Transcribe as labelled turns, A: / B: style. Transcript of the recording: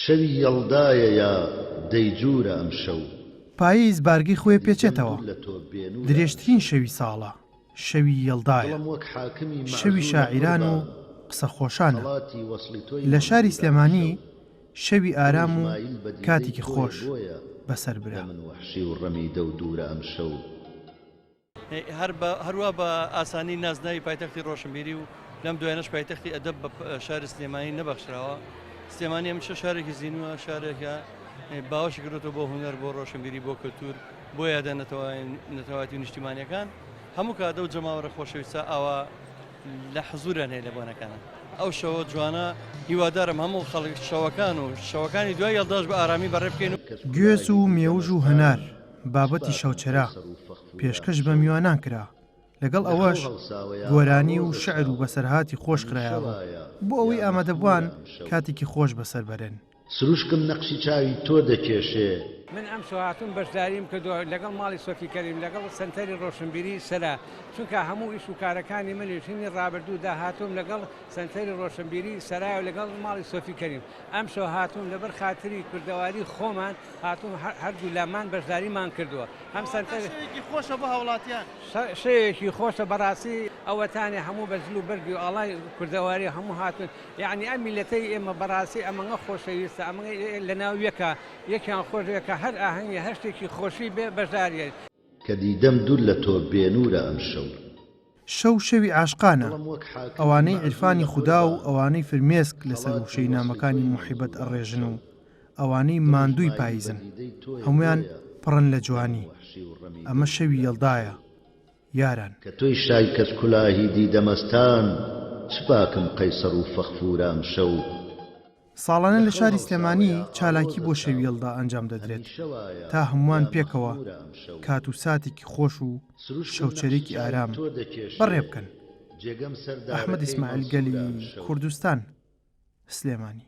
A: شەوی یەڵدایە یا دەیجوورە ئەمشەو. پاییز بارگەی
B: خۆی پێچێتەوە. درێژترین شەوی ساڵە، شەوی یەڵدایە. شەوی شاعیران و قسە خۆشانە. لە شاری سلێمانی شەوی ئارام و کاتیکی خۆش بەسەر برا.
C: هەروا بە ئاسانی نازناوی پایتەختی ڕۆشنبیری و لەم دوایانەش پایتەختی ئەدەب بە شاری سلێمانی نەبەخشراوە. سلێمانی هەمیشە شارێکی زینووە، شارێکە باوەشی کردوەوە بۆ هونەر، بۆ ڕۆشنبیری، بۆ کەلتور، بۆ یادە نەتەوایەتی و نیشتیمانیەکان. هەموو کات ئەو جەماوەرە خۆشەویستە ئاوا لە حزوریان هەیە لە بۆنەکانا. ئەو شەوە جوانە هیوادارم هەموو خەڵک شەوەکان و شەوەکانی دوای یەڵداش بە ئارامی بەڕێ بکەین و. گوێز و مێوژ
B: و هەنار. بابەتی شەوچەرا پێشکەش بە میوانان کرا، لەگەڵ ئەوەش گۆرانی و شعر و بەسەرهاتی خۆش خرایەڕوو، بۆ ئەوەی ئامادەبوان کاتێکی خۆش بەسەر بەرن. سروشکم نەقشی
A: چاوی تۆ دەکێشێ. من ئەمشەو
D: هاتووم بەشداریم کردووە لەگەڵ ماڵی سۆفی کەریم لەگەڵ سەنتەری ڕۆشنبیری سەرا چونکە هەموو ئیش و کارەکانی من ژنی ڕابردوو دا هاتووم لەگەڵ سەنتەری ڕۆشنبیری سەرایەوە لەگەڵ ماڵی سۆفی کەریم ئەمشەو هاتووم لەبەر خاتری کوردەواری خۆمان هاتوون هەردوو لامان بەشداریمان کردووە ئەم سەنتەر شەوێکی خۆشە بۆ هاوڵاتیان شەوێکی خۆشە بەڕاستی ئەوەتانێ هەموو بە جل و بەرگی و ئاڵای کوردەواری هەموو هاتوون یعنی ئەم میلەتەی ئێمە بەڕاستی ئەمەگە خۆشەویستە ئەمە لەناو یەکە یەکیان خۆشەکە هەر ئاهەنگی هەر شتێکی خۆشی بێ بەشداریت کە دیدەم
A: دوور لە تۆ بێنوورە ئەمشەو. شەو
B: شەوی عاشقانە، ئەوانەی عیرفانی خودا و ئەوانەی فرمێسک لەسەر وشەی نامەکانی موحیبەت ئەڕێژن و ئەوانەی ماندووی پایزن هەموویان پڕن لە جوانی. ئەمە شەوی یەڵدایە یاران. کە تۆی شای
A: کەج کولاهی دیدە مەستان چ باکم قەیسەڕ و فەخفورە ئەمشەو. ساڵانە
B: لە شاری سلێمانی چالاکی بۆ شەوی یەڵدا ئەنجام دەدرێت تا هەمووان پێکەوە کات و ساتێکی خۆش و شەوچەرێکی ئارام بەڕێ بکەن. ئەحمەد ئیسماعیل گەلی کوردستان، سلێمانی.